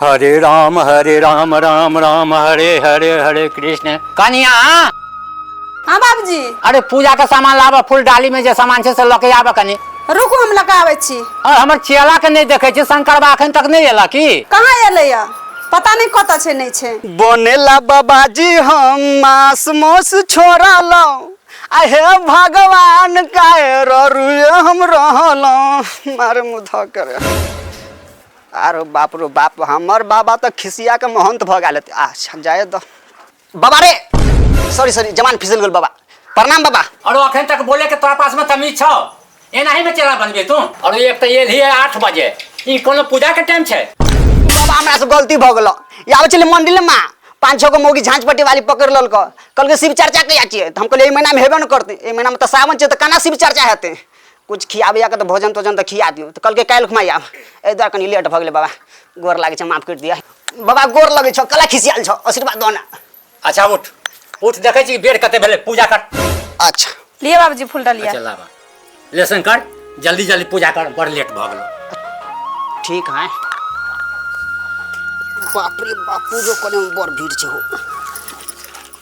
हरे राम हरे राम राम राम हरे हरे हरे कृष्ण कनिया हाँ बाबूजी अरे पूजा के सामान लाबा फूल डाली में जे सामान छै से लऽ के आबा कनी रुकू हम लगा आबै छी और हमर चेला के नहीं देखे छी शंकर बा अखन तक नहीं एला की कहाँ एलैया पता नहि कतऽ छै नहि छै बनेला बाबाजी हम मास मौस छोड़लहुँ आ हे भगवान काहे ररुए हम रहलहुँ मारे मुधा करे आरो बाप रो बाप हमर बाबा तऽ खिसिया के महंत भऽ गेल हेतै आ जाए दऽ बाबा रे सॉरी सॉरी जवान फिसल गेल बाबा प्रणाम बाबा और अखन तक बोले के तोरा पास में तमीज छौ एना ही में चेहरा बनबे तू और एक तो ये लिए आठ बजे ई कोनो पूजा के टाइम छै बाबा हमरा से गलती भऽ गेल आबै छलै मंदिर माँ पाँच छः गो मौगी झाँझ पट्टी वाली पकड़ लल कहलकै शिव चर्चा कहिया छियै तऽ हम कहलियै एहि महीनामे हेबे ने करतै एहि महीनामे तऽ सावन छै तऽ केना शिव चर्चा हेतै किछु खियाबैया के तऽ भोजन तोजन तऽ खिया दियौ तऽ कहलकै काल्हि खुमा आयब एहि दुआरे कनि लेट भऽ गेलै बाबा गोर लागै छै माफ करि दिअ बाबा गोर लगै छौ कला खिसियाल छौ आशीर्वाद दऽ ने अच्छा उठ उठ देखै छी बेर कते भेलै पूजा कर अच्छा लिए बाबूजी फूल डालिया अच्छा लाबा लेसन कर जल्दी जल्दी पूजा कर बड़ लेट भऽ गेलो ठीक है बाप रे बाप पूजो करे में बड़ भीड़ छै हो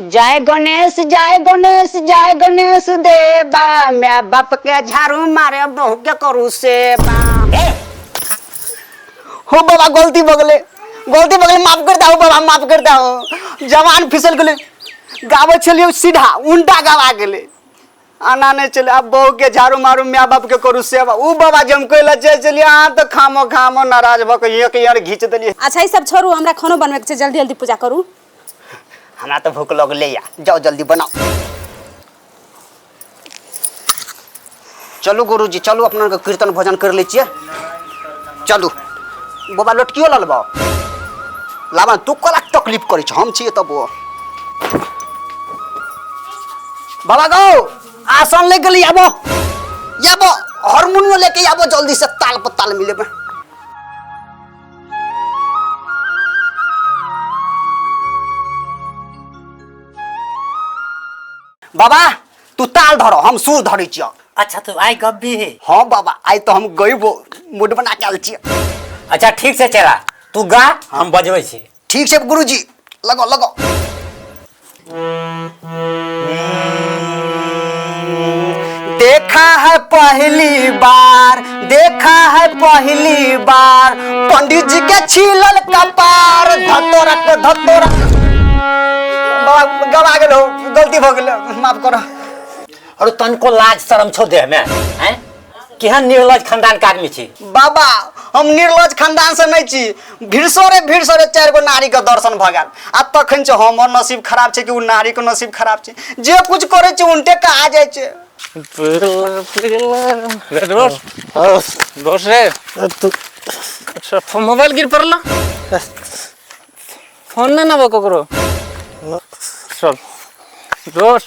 जय गणेश जय गणेश जय गणेश देवा मैं बाप के झाड़ू मारे बहू के करू सेवा हो बाबा गलती बगले गलती बगले माफ करता हो बाबा माफ करता हो जवान फिसल गेले गाबे छलिए सीधा उल्टा गाबा गेले आना नहि छलै आब बहुके झाड़ू मारू माय बापके करू सेवा ओ बाबा जे हम कहै लए जाइ छलियै अहाँ तऽ खामो खामो नाराज भऽ कऽ एक यार घीच देलियै अच्छा ई सब छोड़ू हमरा खानो बनबैके छै जल्दी जल्दी पूजा करू हमरा तऽ भूख लगलै या जाओ जल्दी बनाओ चलू गुरुजी चलू अपना के कीर्तन भजन कर लै छियै चलू बाबा लटकियो लऽ लेबौ लाबा तू कला तकलीफ करै छ हम छियै तब ओ बाबा गौ आसन ले गली आबो याबो हारमोनियो लेके आबो जल्दी से ताल पर ताल मिले में बाबा तू ताल धरो हम सुर धरे छियो अच्छा तो आई गप भी है हाँ बाबा आई तो हम गई वो मूड बना के आल छियो अच्छा ठीक से चला तू गा हम बजबै छी ठीक छै गुरुजी लगाउ लगाउ देखा है पहली बार देखा है पहली बार पंडित जी के छीलल कपार धतोरा को धतोरा बाबा गवा गेलो गलती भऽ गेलो माफ करो अरे तनको लाज शरम छौ देह में हैं केहन निर्लज खानदान के आदमी छी बाबा हम निर्लज खानदान से नहीं छी भिड़सरे भिड़सरे चार गो नारी के दर्शन भ गया आ तखन से हमर नसीब खराब छे कि उ नारी के नसीब खराब छे जे कुछ करे छे उनटे का आ जाए छे रे दोस्त दोस्त रे तू अच्छा फोन मोबाइल गिर पड़ल फोन ना ना ककरो चल दोस्त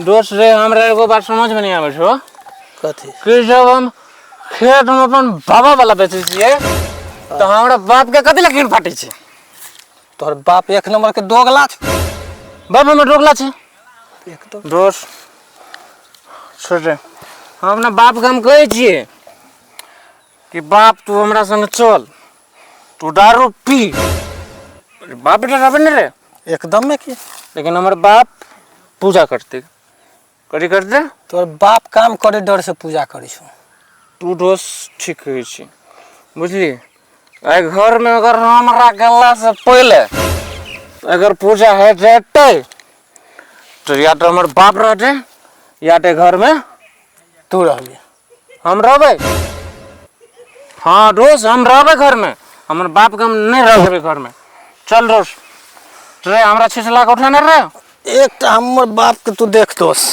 दोस्त रे हमरा एगो बात समझ में नहीं आवे छो कथी कि जब हम खेत में अपन बाबा वाला बेचे छिए तो हमरा बाप के कथी लकीर फाटे छे तोहर बाप एक नंबर के दोगला छ बाप हमर रोकला छे एकदम दोस्त छोड़ रे हम अपना बाप के हम कहे छिए कि बाप तू हमरा संग चल तू दारू पी अरे बाप बेटा रहबे ने रे एकदम में की लेकिन हमर बाप पूजा करते कथी करते तोर बाप काम करे डर से पूजा करै छौ तू दोष ठीक कहै छी बुझली एहि घरमे अगर हमरा गेलासँ पहिले अगर पूजा हो जेतै तऽ या तऽ हमर बाप रहतै या तऽ एहि घरमे तू रहबी हम रहबै हँ रोज हम रहबै घरमे हमर बापके हम नहि रह देबै घरमे चल रोज रे हमरा छिछला के उठेने रे एक तऽ हमर बापके तू देख दोस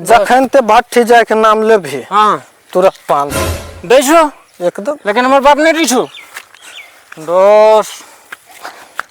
जखन ते भट्ठी जायके नाम लेबही हँ तुरत पान दै छौ एकदम लेकिन हमर बाप नहि दै छौ दोस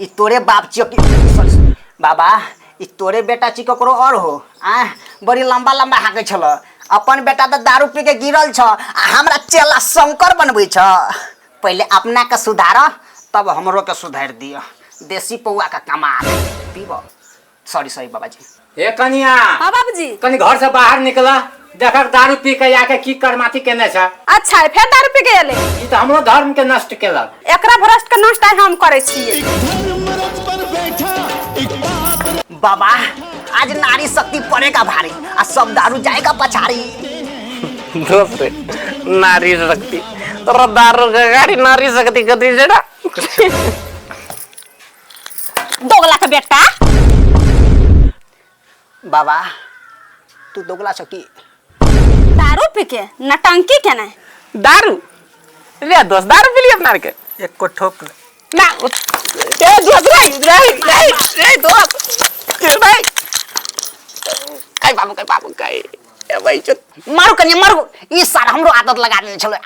ई तोरे बाप छियो कि सॉरी सॉरी। बाबा ई तोरे बेटा छी ककरो और हो आ बड़ी लंबा लंबा हाकै छल अपन बेटा तऽ दारू पी के गिरल छ आ हमरा चेला शंकर बनबै छ पहिले अपना के सुधार तब हमरो के सुधार दिय देसी पौआ के कमाल पीब सॉरी सॉरी बाबा जी हे कनिया हाँ बाबूजी कनी घर से बाहर निकल देखक दारू पी के आके की करमाती केने छ अच्छा है फेर दारू पी के एले ई त हमरो धर्म के नष्ट केलक एकरा भ्रष्ट के नष्ट आइ हम करै छियै बाबा आज नारी शक्ति पड़े का भारी आ सब दारू जाए का पछाड़ी दोस्त नारी शक्ति तोरा दारू के गाड़ी नारी शक्ति कथी छै ना दोगला के बेटा बाबा तू दोगला छ कि दारू पी के नटंकी के ना दारू रे दोस्त दारू पी लिए अपना के एक को ठोक ना उत- ए दोस्त रे रे रे रे दोस्त ए भाई काय बाबू काय बाबू काय ए भाई चो मारू कनी मारू ई सार हमरो आदत लगा देने छलो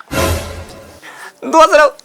दोस्त रे